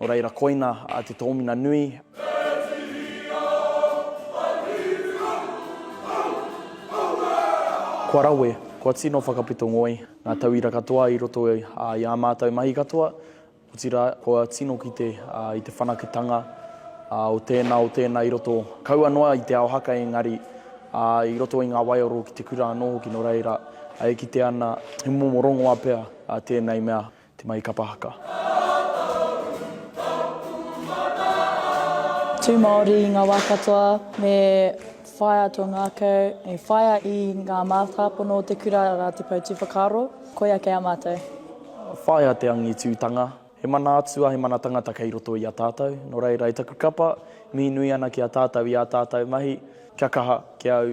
Nō reira, koina te tōmina nui. Kua rawe, kua tino whakapito ngoi ngā tauira katoa i roto i ā mātou mahi katoa, otirā, kua tino kite i te whanaketanga o tēnā, o tēnā i roto, kaua noa i te ao haka engari, i roto i ngā waiaro ki te kura anō hoki, nō reira, e kite ana he momo rongoa pea tēnei mea. Te Mai Kapa Haka. Tū Māori i ngā wā katoa, me whaia tō ngākau, me whaia i ngā mātāpono o te kura rā te poutu whakaaro, koia kei a mātou. Whaia te angitūtanga, he mana atua, he mana tangata kei roto i a tātou, nō reira i taku kapa, mihi nui ana ki a tātou i ā tātou mahi, kia kaha, kia au,